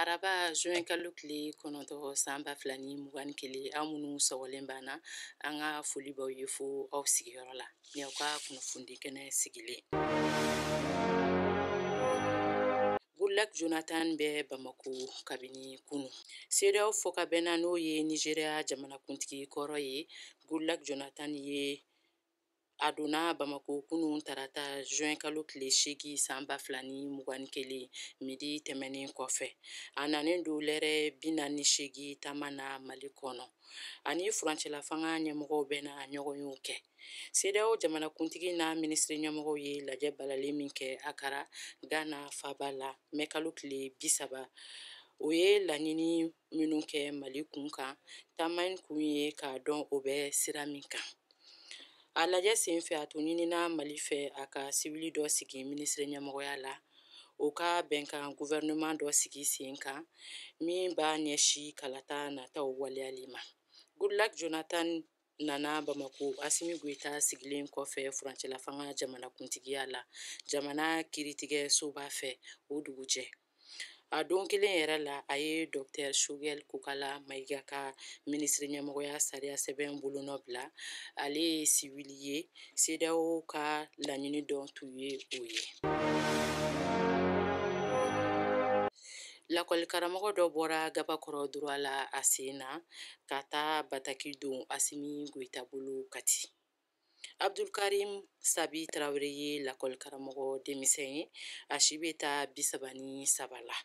araba juin kalo tile kɔnɔntɔn san ba fila ni mugan ni kelen aw minnu sɔgɔlen b'an na an ka foli b'aw ye fo aw sigiyɔrɔ la ni aw ka kunnafoni kɛnɛ sigilen Goodluck Jonathan bɛ Bamako kabini kunu. CEDEAO fɔkabɛnna n'o ye Nigeria jamanakuntigi kɔrɔ ye, Goodluck Jonathan ye a donna bamako kunun tarata juin kalo tile seegi san ba fila ni mugan ni kelen midi tɛmɛnen kɔfɛ a nanen don lɛrɛ binaani ni seegi taama na mali kɔnɔ a ni furancɛlafanga ɲɛmɔgɔw bɛna ɲɔgɔnyew kɛ sedeyaw jamanakuntigi n'a minisiri ɲɛmɔgɔw ye lajɛ balalen min kɛ akara gana faba la mɛ kalo tile bisaba o ye laɲini minnu kɛ mali kun kan taama in kun ye k'a dɔn o bɛ sira min kan a lajɛ sen fɛ a tun ɲinina mali fɛ a ka sibili dɔ sigi minisiri ɲɛmɔgɔya la o ka bɛnkan gouvernement dɔ sigi sen kan min b'a ɲɛsin kalata nataw waleyali ma goodluck jonathan nana bamako asimi goyita sigilen kɔfɛ furancɛlafanga jamanakuntigiya la jamana kiritigɛsoba fɛ o dugujɛ a don kelen yɛrɛ la a ye dɔktɛr shogɛl kokala mayiga ka minisiri ɲɛmɔgɔya sariya sɛbɛn bolonɔ bila ale ye siwili ye sedeyaw ka laɲini dɔ tun ye o ye lakɔlikaramɔgɔ dɔ bɔra gabakɔrɔ droit la a sen na ka taa bataki don asimi goyita bolo kati abdulkarim sabi tarawele ye lakɔlikaramɔgɔ denmisɛn ye a si bɛ taa bisaba ni saba la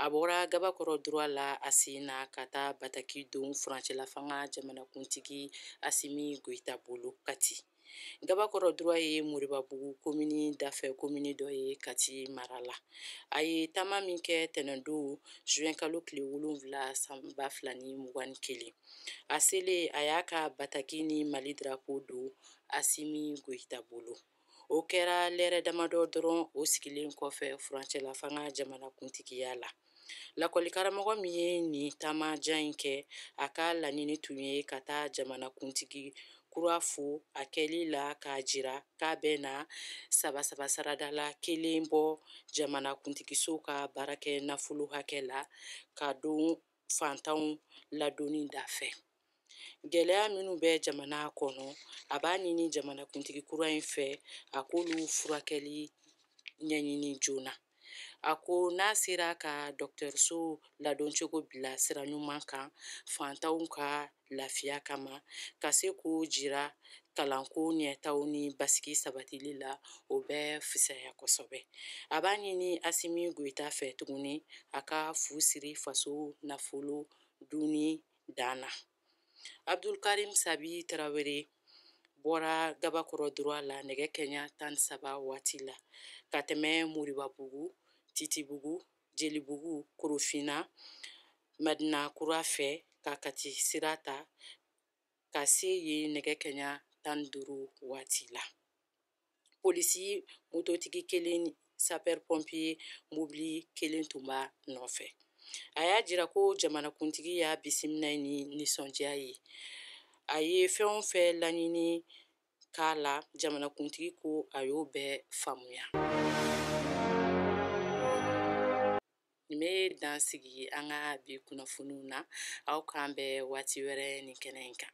a bɔra gabakɔrɔ droit la a sen na ka taa bataki don furancɛlafanga jamanakuntigi asimi goyita bolo kati gabakɔrɔ droit ye moribabugu komini dafɛ komini dɔ ye kati mara la a ye taama min kɛ tɛnɛndon zuwɛn kalo tile wolonwula san ba fila ni mugan ni kelen a selen a y'a ka bataki ni mali darapo don asimi goyita bolo o kɛra lɛrɛ damadɔ dɔrɔn o sigilen kɔfɛ furancɛlafanga jamanakuntigiya la lakɔlikaramɔgɔ min ye nin taamajan in kɛ a ka laɲini tun ye ka taa jamanakuntigi kura fo a kɛli la k'a jira k'a bɛna saba saba sarada la kelen bɔ jamanakuntigiso ka baarakɛ nafolo hakɛ la k'a don fantanw ladonni da fɛ gɛlɛya minnu bɛ jamana kɔnɔ a b'a ɲini jamanakuntigi kura in fɛ a k'olu furakɛli ɲɛɲini joona a ko n'a sera ka dɔgɔtɔrɔso ladoncogo bila sira ɲuman kan fantanw ka lafiya kama ka se k'o jira kalanko ɲɛtaa ni basigi sabatili la o bɛ fisaya kosɛbɛ a b'a ɲini asimi goyita fɛ tuguni a ka fu siri faso nafolo dunni dan na abdulkarim sabi tarawele bɔra gabakɔrɔ duruwa la nɛgɛ kanɲɛ tan saba waati la ka tɛmɛ moribabugu titibugu jelibugu korofina madina kura fɛ ka kati sira ta ka se yen nɛgɛ kanɲɛ tan duuru waati la polisi mototigi kelen sapɛri pɔnpiye mobili kelen tun b'a nɔfɛ a y'a jira ko jamanakuntigi y'a bisimila ni nisɔndiya ye a ye fɛn o fɛn laɲini k'a la jamanakuntigi ko a y'o bɛɛ faamuya nin bɛ dan sigi an ka bi kunnafoniw na aw k'an bɛn waati wɛrɛ nin kɛnɛ in kan